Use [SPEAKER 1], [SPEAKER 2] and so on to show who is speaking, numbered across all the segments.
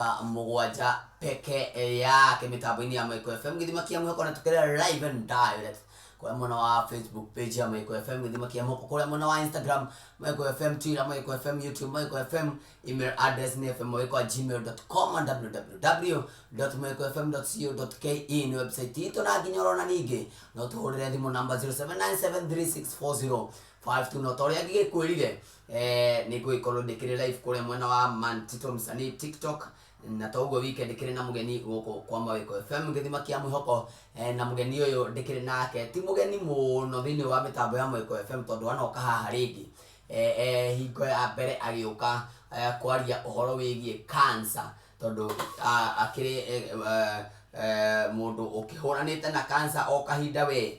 [SPEAKER 1] Thaa mũgwanja peke yake mĩtambo-inĩ ya Maiko FM gĩthima kĩa mwĩhoko na tũkĩrĩ live and direct kũrĩa mwena wa Facebook page ya Maiko FM gĩthima kĩa mwĩhoko kũrĩa mwena wa Instagram Maiko FM Twitter Maiko FM YouTube Maiko FM email address nĩ fmmaiko@gmail.com and www.maikofm.co.ke nĩ website itũ na nginya orona ningĩ no tũhũrĩre thimũ namba 0797364052 no ta ũrĩa ngĩgĩkwĩrire Eh, nĩ ngũgĩkorwo ndĩkĩrĩ live kũrĩa mwena wa Man Tito Msanii TikTok na to ũguo wike ndĩkĩrĩ na mũgeni gũkũ kwa Mawĩko FM gĩthima kĩa mwĩhoko eh, na mũgeni ũyũ ndĩkĩrĩ nake ti mũgeni mũno thĩinĩ wa mĩtambo ya Mawĩko FM tondũ anoka haha rĩngĩ eh, eh, hingo ya mbere agĩũka eh, kwaria ũhoro wĩgiĩ cancer tondũ ah, akĩrĩ eh, eh, eh, mũndũ ũkĩhũranĩte na cancer o kahinda wee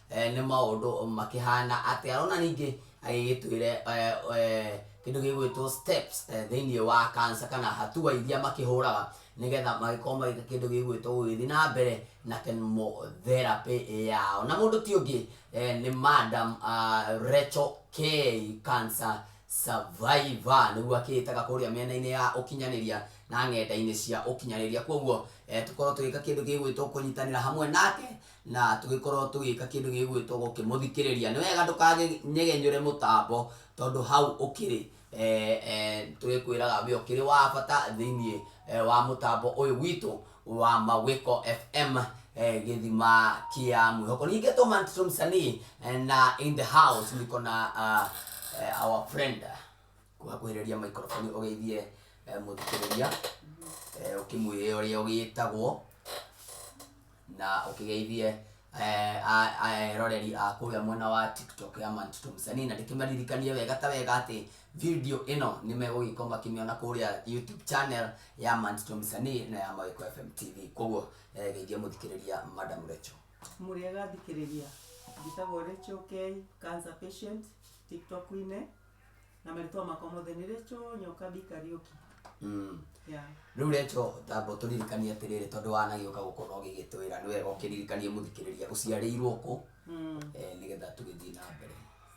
[SPEAKER 1] eh, nĩ maũndũ makĩhana atĩa rona ningĩ agĩgĩtwĩre eh, eh, kĩndũ gĩgwĩtwo steps eh, thĩinĩ wa kansa kana hatua iria makĩhũraga nĩgetha magĩkorwo magĩka kĩndũ gĩgwĩtwo gũgĩthiĩ na mbere na chemotherapy yao na mũndũ ti ũngĩ eh, nĩ madam uh, Rachel K cancer survivor nĩguo akĩĩtaga kũrĩa mĩena-inĩ ya ũkinyanĩria na ng'enda-inĩ cia ũkinyanĩria kwoguo eh, tũkorwo tũgĩka kĩndũ gĩgwĩtwo kũnyitanĩra hamwe nake na tũgĩkorwo tũgĩka kĩndũ gĩgwĩtwo gũkĩmũthikĩrĩria, nĩ wega ndũkanyegenyũre mũtambo tondũ hau ũkĩrĩ, tũgĩkwĩraga we ũkĩrĩ wa bata thĩiniĩ wa mũtambo ũyũ witũ wa Mawĩko FM gĩthima kĩa mwĩhoko. Ningĩ to man to msanii na in the house niko na our friend. Kũhakuhĩrĩria microphone ũgeithie mũthikĩrĩria ũkĩmwĩre ũrĩa ũgĩtagwo na ũkĩgeithie eroreri a kũrĩa mwena wa TikTok ya Mantito Msanii, na ndĩkĩmaririkanie wega ta wega atĩ video ĩno nĩmegũgĩkorwo makĩmĩona kũrĩa YouTube channel ya Mantito Msanii na ya Mawĩko FM TV. Koguo geithia mũthikĩrĩria Madam Recho. Mũrĩega
[SPEAKER 2] athikĩrĩria, njĩtagwo Recho Kei, cancer patient, TikTok-inĩ. na marĩtwa makwa mothe nĩ rĩcho nyoka bi kariũki Mm. yeah. rĩu recho
[SPEAKER 1] tambo tũririkanie atĩrĩrĩ tondũ wanagĩũka gũkũ no gĩgĩtwĩra nĩ wega ũkĩririkanie mũthikĩrĩria ũciarĩirwo kũ mm. eh, nĩgetha tũgĩthiĩ na mbere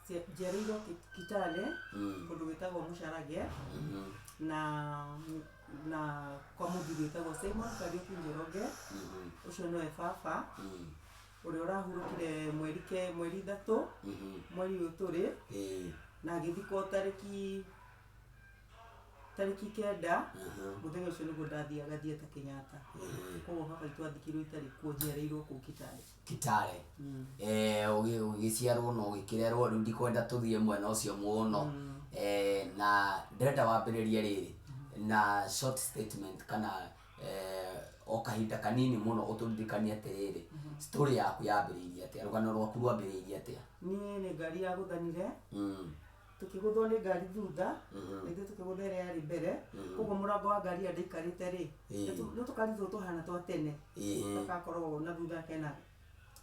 [SPEAKER 1] Cia- njiarĩirwo
[SPEAKER 2] Ki- kitale Mm. kũndũ gwĩtagwo mũcarage Mhm. na na kwa mũthuri wĩtagwo simon kariũki njoroge Mhm. ũcio nĩwe baba Mm. ũrĩa ũrahurũkire mweri ke mweri ithatũ Mhm. mweri ũyũ tũrĩ Eh, na ngĩthikwo tarĩki tarĩki kenda aha, mũthenya ũcio nĩguo ndathiaga thieta kenyatta eh. koguo baba itũ athikirwo itarĩ kuo njiarĩirwo kũu kitale kitale Mm. Eh, ũgĩ-
[SPEAKER 1] ũgĩciarwo na ũgĩkĩrerwo rĩu ndikwenda tũthiĩ mwena ũcio mũno Eh, na ndĩrenda wambĩrĩrie rĩrĩ na short statement kana eh, o kahinda kanini mũno ũtũririkanie atĩrĩrĩ story yaku yambĩrĩirie atĩa rũgano rwaku rwambĩrĩirie atĩa niĩ nĩ ngari ya
[SPEAKER 2] gũthanire Mm, tũkĩgũthwo nĩ ngari thutha Mhm. na ithuĩ tũkĩgũtha ĩrĩa yarĩ mbere Mhm. koguo mũrango wa ngari ĩrĩa ndaikarĩte rĩ Ĩĩ. nĩ tũkaritwo tũhana twa tene ĩhĩ. gagakorwo na thutha kena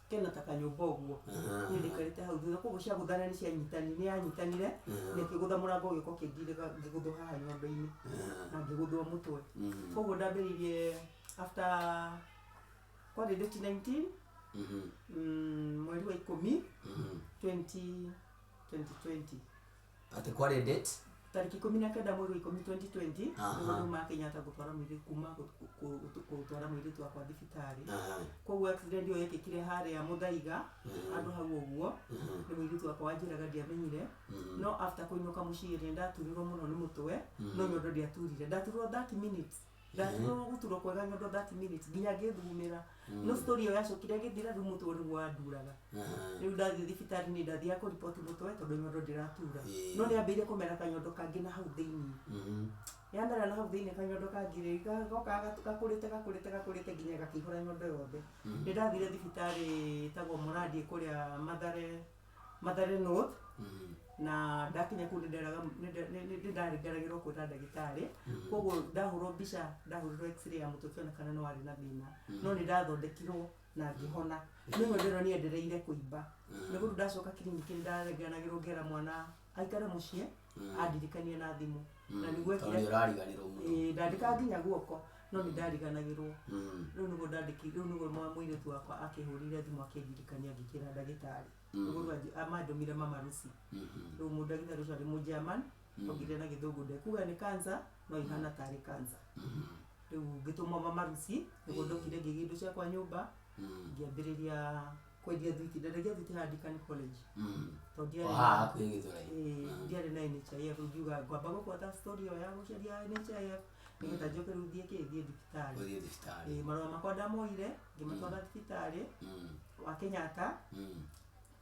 [SPEAKER 2] kena ta kanyũmba ũguo Aha. niĩ ndĩkarĩte hau thutha koguo ciagũthana nĩ cianyitani nĩ yanyitanire Aha. na ĩkĩgũtha mũrango ũgĩũka ũkĩndirĩga ngĩgũthwo haha nyũmba-inĩ Aha. na ngĩgũthwo mũtwe Mhm. koguo ndambĩrĩirie after kwarĩ date 19 Mhm. mm, mweri wa ikũmi Mhm. 20 2020 Atĩ
[SPEAKER 1] kwarĩ date? Tarĩki ikũmi na
[SPEAKER 2] kenda mweri wa ikũmi 2020 Aha. nĩguo andũ ma Kenyatta gũtwara mũirĩtu kuma gũ- gũ- gũ- gũtwara mũirĩtu wakwa thibitarĩ Aha. koguo accident ĩyo yekĩkire harĩa mũthaiga handũ hau ũguo nĩ mũirĩtu wakwa wanjĩraga ndiamenyire no after kũinũka mũciĩ rĩ nĩndaturirwo mũno nĩ mũtwe no nyondo ndiaturire ndaturwo 30 minutes ndatigagwo gũturwo kwega nyondo that minute nginya ngĩthugumĩra no story ĩyo yacokire ĩgĩthira rĩu mũtwe ũyũ nĩguo wanduraga rĩu ndathiĩ thibitarĩ nĩ ndathiaga kũ report mũtwe tondũ nyondo ndĩratura Ĩĩ. no nĩ ambĩire kũmera kanyondo kangĩ na hau thĩinĩ Mhm. yamera na hau thĩinĩ kanyondo kangĩ rĩ ga- gokaga gatu- gakũrĩte gakũrĩte gakũrĩte nginya gakĩihũra nyondo yothe nĩ ndathire thibitarĩ ĩtagwo mũrandi kũrĩa mathare Mathare North na ndakinya kuu nĩnderaga- nĩnde- nĩ- nĩ- nĩndaringaragĩrwo kwĩra ndagĩtarĩ koguo ndahũrwo mbica ndahũrirwo x-ray ya mũtwe kĩonekana nĩ warĩ na thĩna no nĩ ndathondekirwo na ngĩhona nĩho ndĩrona nĩ endereire kũimba nĩ gũtũ ndacoka kiriniki nĩ ndarenganagĩrwo ngera mwana aikare mũciĩ andirikania na thimũ na nĩguo tondå nä ekire å rariganirwo må no Ĩĩ, ndandĩkaga nginya guoko no nĩ ndariganagĩrwo Mm, rĩu nĩguo ndandĩki rĩu nĩguo mwa- mũirĩtu wakwa akĩhũrire thimũ akĩndirikania ngĩkĩra ndagĩtarĩ nĩguo rĩu anji- amandũmire mama rusi mhm, rĩu mũ- ndagĩtarĩ ũcio arĩ mũ german ongire na gĩthũngũ ndekuga nĩ kansa no ihana tarĩ kansa mhm, rĩu ngĩtũmwo mama rusi nĩguo ndokire ngĩgĩa indo ciakwa nyũmba mm, ngĩambĩrĩria kwendia thwiti ndendagia thwiti haha ndikani college Mm. tondũ ndiarĩ O haha hakuhĩ gĩthũrai Eh, Mm. ndiarĩ na NHIF rĩu ngiuga ngwamba gũbuata story ĩyo ya gũcaria NHIF nĩgetha njoke rĩu thiĩ kĩ thiĩ thibitarĩ gũthiĩ thibitarĩ Eh, marũa makwa ndamoire ngĩmatwara thibitarĩ Mm. wa Kenyatta Mm.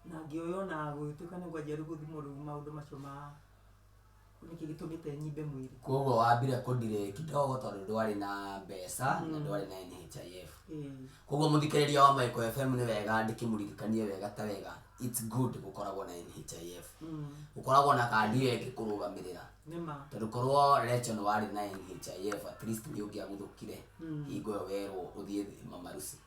[SPEAKER 2] na ngĩoywo na gũgĩtuĩka nĩ ngwanjia rĩu gũthimwo rĩu maũndũ macio ma nĩkĩ gĩtũmĩte nyimbe mwĩrĩ koguo wambire kũdirĩ
[SPEAKER 1] kidogo tondũ ndwarĩ na mbeca na ndwarĩ na NHIF Ĩĩ. koguo mũthikĩrĩria wa Maiko FM nĩ wega ndĩkĩmũririkanie wega ta wega it's good gũkoragwo na NHIF gũkoragwo na kandi ĩyo ĩngĩkũrũgamĩrĩra nĩ ma tondũ korwo Rachel nĩ warĩ na NHIF at least nĩ ũngĩaguthũkire hingo ĩyo werwo ũthiĩ thĩ mamaruci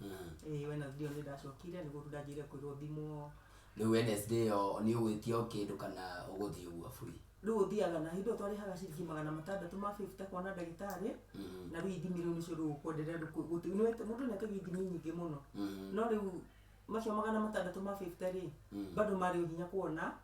[SPEAKER 2] Mm. Eh, Wednesday nĩ ndacokire nĩ gũthu ndanjĩire kwĩrwo thimwo rĩu wednesday
[SPEAKER 1] ĩyo nĩ ũgwĩtia o kĩndũ kana ũgũthiĩ ũguo buri rĩu ũthiaga na hĩndĩ
[SPEAKER 2] ĩyo twarĩhaga ciringi magana matandatũ ma bĩbita kwana ndagĩtarĩ Mhm. na rĩu ithimi rĩu nĩcio rĩu ũkwenderea rĩu kũ- gũti- nĩ wete- mũndũ nĩetagia ithimi nyingĩ mũno Mhm. no rĩu macio magana matandatũ ma bĩbita rĩ Mm. bado marĩ o hinya kuona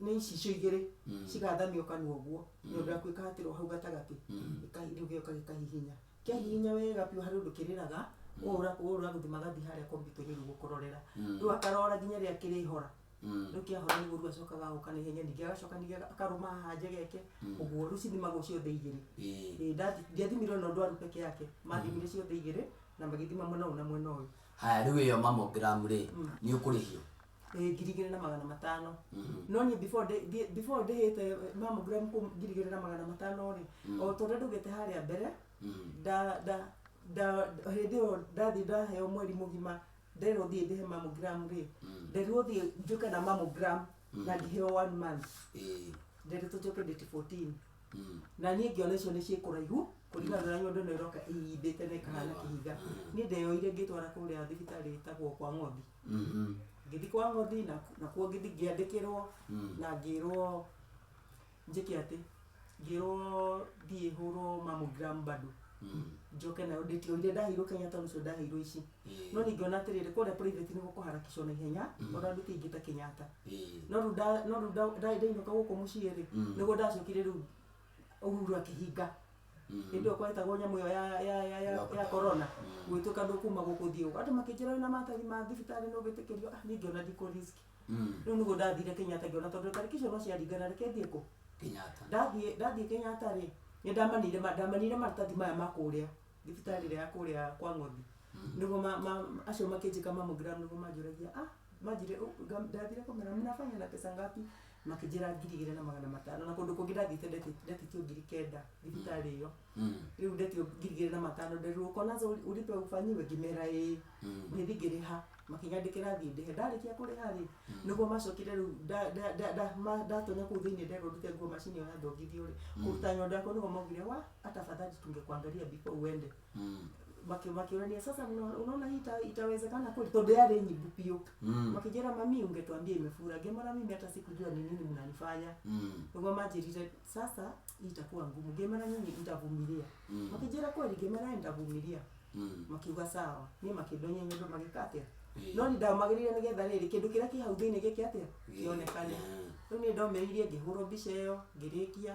[SPEAKER 2] nĩ ici icio igĩrĩ Mm. cigathanio kanua ũguo Mm. nyondo yaku ĩkahatĩrwo hau gatagatĩ Mm. ĩka- rĩu gĩoka gĩkahihinya kĩahihinya wega biũ harĩ ũndũ kĩrĩraga ũra ũra gũthima gathi harĩa kompiuta-inĩ rĩu gũkororera Mm. rĩu akarora nginya rĩrĩa kĩrĩhora Mm. rĩu kĩahora nĩguo rĩu acokaga agoka na ihenya ningĩ agacoka ningĩ aga- akarũma haha njegeke Mm. ũguo rĩu cithimagwo ciothe igĩrĩ Ĩĩ. Ĩĩ, ndathi- ndiathimirwo na ndwaru peke yake mathimire ciothe igĩrĩ na magĩthima mwena ũyũ na mwena ũyũ haya rĩu ĩyo
[SPEAKER 1] mamogramu rĩ nĩ ũkũrĩhio eh, ngiri igĩrĩ na magana
[SPEAKER 2] matano no niĩ before ndĩ- ndĩ- before ndĩhĩte mammogram kũ ngiri igĩrĩ na magana matano rĩ o tondũ ndũgĩte harĩa mbere nda- nda- nda- hĩndĩ ĩyo ndathiĩ ndaheo mweri mũgima nderwo thiĩ ndĩhe mammogram rĩ nderirwo thiĩ njũke na mammogram na ngĩheo one month Eh, nderetwo njoke date 14 mm. na niĩ ngĩona icio nĩ ciĩkũraihu kũringana na nyondo ĩno ĩroka ĩindĩte na ĩkahana kĩhinga niĩ ndeyoire ngĩtwara kũrĩa thibitarĩ ĩtagwo kwa ng'othi Mhm. ngĩthi kwa ngothi na- nakuo ngĩthi ngĩandĩkĩrwo Mm. na ngĩrwo njĩke atĩ ngĩrwo thiĩ hũrwo mamogram bado Mm. njoke nayo ndĩtio iria ndaheirwo kenyatta nĩcio ndaheirwo ici Eh. no ningĩona atĩrĩrĩ kũrĩa private nĩ gũkũharakicwo na ihenya Mm. ona nduti ingĩ ta kenyatta Eh. no rĩu nda- no rĩu nda- nda- ndainũka gũkũ mũciĩ rĩ Mm. nĩguo ndacokire rĩu uhuru akĩhinga ĩndĩ okwa ĩtagwo nyamũ ĩyo ya- ya- ya- ya- Lockdown. ya korona gwĩtuĩka ndũkuma gũkũ ũthiĩ gũkũ andũ makĩnjĩra wĩna maratathi ma thibitarĩ nĩ ũgwĩtĩkĩrio ah niĩ ngĩona ndikũ risk Mm. rĩu nĩguo ndathire kenyatta ngĩona tondũ tarĩki icio no ciaringana reke thiĩ kũ Kenyatta. ndathiĩ
[SPEAKER 1] ndathiĩ kenyatta
[SPEAKER 2] rĩ nĩ ndamanire ma- ndamanire maratathi maya ma kũrĩa thibitarĩ ĩrĩa ya kũrĩa kwa ng'othi nĩguo ma- ma- acio makĩnjĩka mammogram nĩguo manjũragia ah manjire "Ũ- nga- ndathire kũmera mnafanya na pesa ngapi makĩnjĩra ngiri igĩrĩ na magana matano na kũndũ kũngĩ ndathiĩte ndeti- ndetĩtio ngiri kenda thibitarĩ ĩyo rĩu ndetio ngiri igĩrĩ na matano nderirwo uko nazo uli- ulipe ufanyiwe ngĩmera ĩĩ ngĩthi ngĩrĩha makĩnyandĩkĩra thiĩ ndĩhe ndarĩkia kũrĩha rĩ nĩguo macokire rĩu nda- nda- nda- nda- ma- ndatonya kũu thĩinĩ nderwo ndute nguo macini ĩyo yathongithio rĩ kũruta nyondo yakwa nĩguo maugire wa hata afadhali tungekuangalia before uende Mm. maki- makiurania sasa mna- unaona hii ita, itawezekana kweli tondu yarĩ nyimbu biũ Mm. makijĩra mami ungetwambia imefura ngĩmara mimi hata sikujua ni nini mnanifanya Mm. niguo manjĩrire sasa hii itakuwa ngumu ngĩmara nyinyi nitavumilia Mm. makijĩra kweli ngĩmara nitavumilia Mm. makiuga sawa ni makĩndonya nyũndũ magĩka atĩa Eh. no nĩ ndamagĩrĩire nĩgetha rĩrĩ kĩndũ kĩrĩa kĩ hau thĩinĩ gĩke atĩa kĩonekane Yeah. rĩu nĩ ndomĩrĩirie ngĩhũrwo mbica ĩyo ngĩrĩkia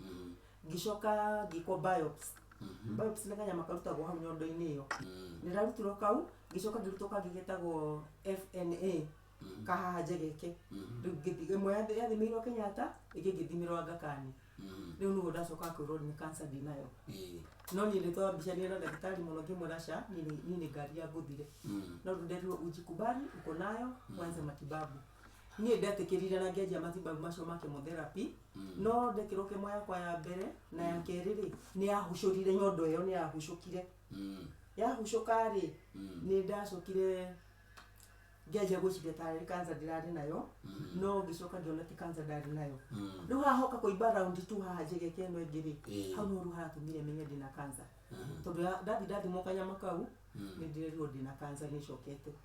[SPEAKER 2] mm, ngĩcoka ngĩkwo biopsy mhm, biopsy nĩ kanyama karutagwo hau nyondo-inĩ ĩyo mm, nĩ ndarutirwo kau ngĩcoka ngĩrutwo kangĩ getagwo fna mm, kahaha njegeke mhm, Rĩu ngĩthi- ĩmwe yathi- yathimirwo kenyatta ĩngĩ ngĩthimirwo angakani mm, rĩu nĩguo ndacoka kwĩrwo nĩ kansa ndinayo ĩĩ, no niĩ ndĩtwa mbica nĩ na ndagĩtarĩ mũno ngĩmwĩra ca niĩ nĩ- niĩ nĩ ngari ya ngũthire mm, no nderirwo ujikubali uko nayo kwanza matibabu niĩ ndetĩkĩrire na ngĩanjia matibabu macio ma chemotherapy no ndekero kemo yakwa ya mbere na ya kerĩ rĩ nĩ yahucũrire nyondo ĩyo nĩ yahucũkire Mm. yahucũka rĩ Mm. nĩ ndacokire ngĩanjia gwĩciria tarĩ kansa ndĩrarĩ nayo Mm. no ngĩcoka ngĩona ti kansa ndarĩ nayo Mm. rĩu hahoka kũimba raundi tu haha njegeke ĩno ĩngĩ rĩ Ĩĩ. hau nĩho rĩu hatũmire menye ndĩna kansa Mhm. tondũ ya- ndathi ndathimwo kanyama kau Mm. nĩ ndĩrerirwo ndĩna kansa nĩ ĩcokete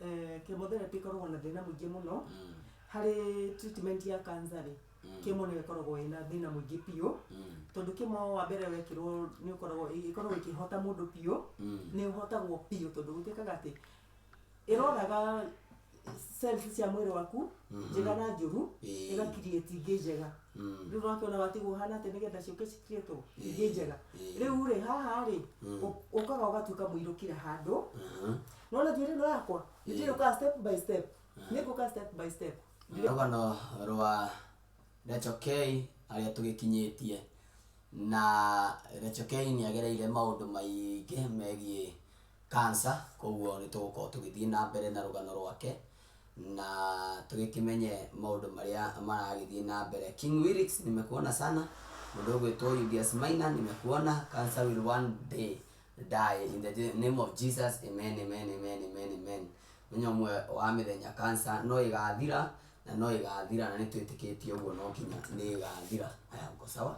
[SPEAKER 1] eh, chemotherapy
[SPEAKER 2] ĩkoragwo na thĩna mũingĩ mũno Mm, harĩ treatment ya cancer rĩ mm, kemo nĩyo ĩkoragwo ĩna thĩna mũingĩ biũ mm, tondũ kemo wa mbere wekĩrwo nĩ ũkoragwo ĩkoragwo ĩkĩhota mũndũ biũ mm, nĩ ũhotagwo biũ tondũ gũtuĩkaga atĩ ĩroraga cells cia mwĩrĩ waku Mhm. njega na njũru Ĩĩ. ĩgakirieti ingĩ njega mm, rĩu wakĩona watigwo hana atĩ nĩgetha ciũke cikirietwo Ĩĩ. ingĩ njega Ĩĩ. rĩu rĩ haha rĩ Mm. ũ- ũkaga ũgatuĩka mũirũkire handũ aha, nona thwirino yakwa itiyuka step by step nikuka step by step rũgano
[SPEAKER 1] rwa Rachel Kay harĩa tũgĩkinyĩtie na Rachel Kay nĩ agereire maũndũ maingĩ megiĩ kansa koguo nĩ tũgũkorwo tũgĩthiĩ na mbere na rũgano rwake na tũgĩkĩmenye maũndũ marĩa maragĩthiĩ na mbere King Wilix nimekuona sana mũndũ ũgwĩtwo Julius Maina nimekuona cancer will one day die in the je- name of Jesus, amen, amen, amen, amen, amen. Onye omwe owamethenya cancer no igathira, na no igathira na nitwitikitie oguo no kinya nigathira. Aya mko sawa?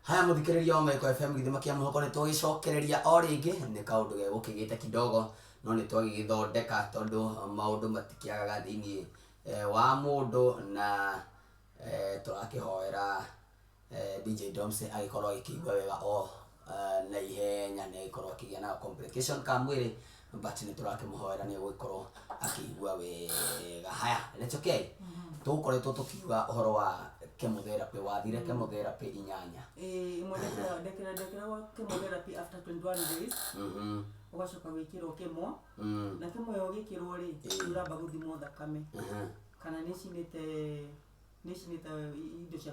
[SPEAKER 1] haya muthikiriria wa maiko fm githima kia muhoko ni twagicokereria o ringi ni kaundu gegukigite kidogo no ni twagigithondeka tondu maundu matikiagaga thiini wa mũndũ na tũrakĩhoera DJ Domse agĩkorwo agĩkĩigua wega o na ihenya na agĩkorwo akĩgĩa na ga complication ka mwĩrĩ but nĩ tũrakĩmũhoera nĩ egũgĩkorwo akĩigua wega. Haya, recokei, tũgũkoretwo tũkiuga ũhoro wa chemotherapy, wathire chemotherapy inyanya. Ĩĩ, ĩmwe ndekĩra ndekĩra
[SPEAKER 2] ndekĩragwo chemotherapy after 21 days, ũgacoka gwĩkĩrwo chemo. Mm. na timu yo gikirwo ri Eh. uramba guthimwo thakame Aha. kana nicinite nicinite indo cia